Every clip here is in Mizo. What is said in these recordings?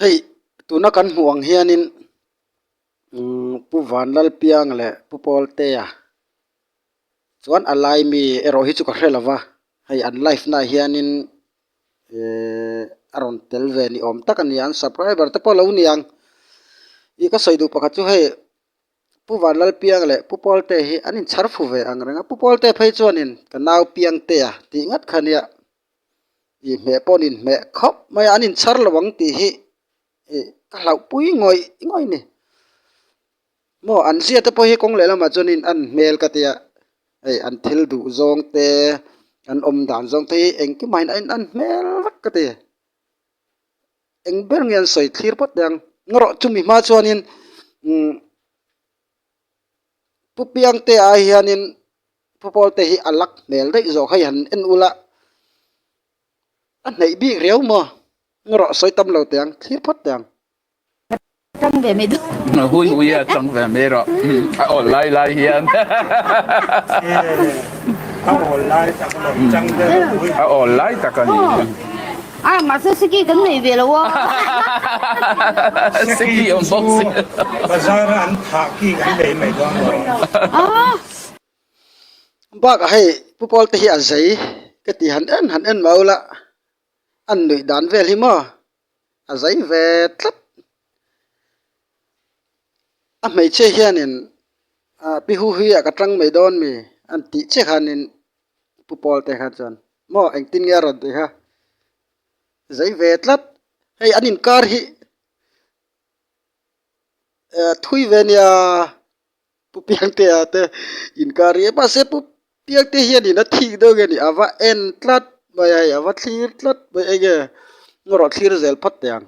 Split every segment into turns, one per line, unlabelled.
hei tuna kan hmuh ang hianin umm pu vanlal piang leh pu pawltea chuan a lai mi erawh hi chu ka hre lova hei an life naah hianin eehh a rawn tel ve ni awm tak a ni a an subcriber te pawh lo ni ang ih ka sawi duh pakhat chu hei pu vanlal piang leh pu pawlte hi an inchhar fu ve angreng a pu pawlte phei chuanin ka nau piangtea tih ngat kha nia. inhmeh pawh an inhmeh khawp mai a an inchhar lo ang tih hi ih ka hlauh pui ngawih ngawih ni maw an ziate pawh hi kawng leh lamah chuanin a ni hmel ka tia hei an thil duh zawng te an awm dan zawng te hi engkimah hian a inang hmel vek ka ti eng ber nge an sawi thlir phawt mai ang maw rawh chumi hma chuanin umm. Pu Piangte ah hianin Pu Pawlte hi a lak hmel daih zawk hei han en ula, a hnaih bik riau maw? Eng rawh sawi tam lo teh ang, thlir phawt teh ang. Hun uia a chang ve mai rawh, a awl lai lai hian a awl lai tak a ni. A, mahse Seki kan nei ve lo a. Seki chu bazar a an thah ki kan nei mai dawn lo a. Bakah hei Pu Pawl te hi a zei ka tih han en han en mai ula, an nuih dan vel hi maw a zei ve tlat. A hmeichhia hianin Pi Hu Huia ka tang mai dawn mi an tih che khanin Pu Pawl te khan chuan Maw eng tin nge a rawn ti ha zai ve tlat hei an inkar hi eh thui ve nia pu piangte ah te inkar hi mahse pu piangte hian in a thik deuh nge ni a va en tlat mai a hei a va thlir tlat mai enge maw rawh thlir zel phat teh ang.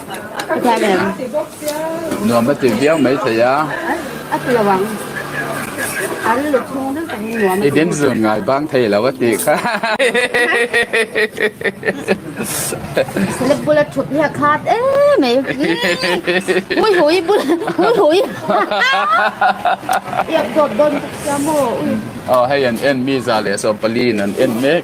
Nuam a ti viau mai thei a. I dim zun ngai bang thei lo a ti kha. Aw hei an en mi za leh sawmpali in an en mek.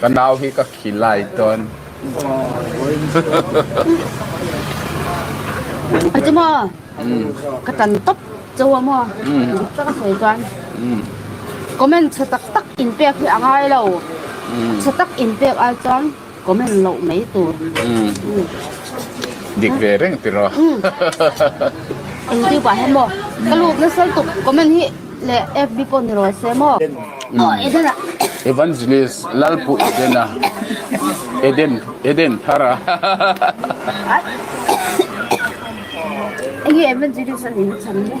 Ka nau hi ka khi lai tawn. A chu maw? Ka tan tawp chau a maw? Dik tak a sawi chuan comment chhe tak tak inpek hi a ngai lo. Chhe tak inpek ai chuan. Comment loh mai tur dik ve reng tiraw YouTube ah hian maw ka lut na sal tuk comment hi le FB pawh ni rawl se maw maw Eden ah Evangelist Lalpu Eden a Eden Eden thara enge Evangelist a ni na chhan maw.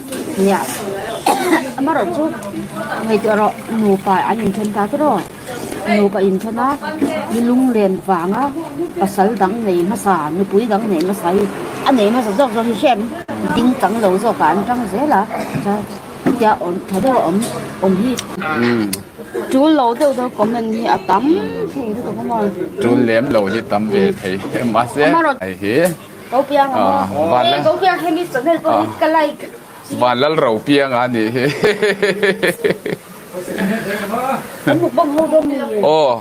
Nia amarawh chu ngaihtuah rawh nupa an in then ta tawh rawh nupa in then a ni lunglen vanga pasal dang nei hmasa nupui dang nei hmasa hi a nei hmasa zawk zawk hi hriat ding tang lo zawk a an tang zel a ta tia awm tha deuh awm awm hi tul lo deuh deuh comment hi a tam thin chu ka hmu a tul lem lo hi tam ve thei em a se hei hi Vanlal ro piang a nih hi aw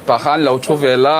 tah khan lo thu vel a.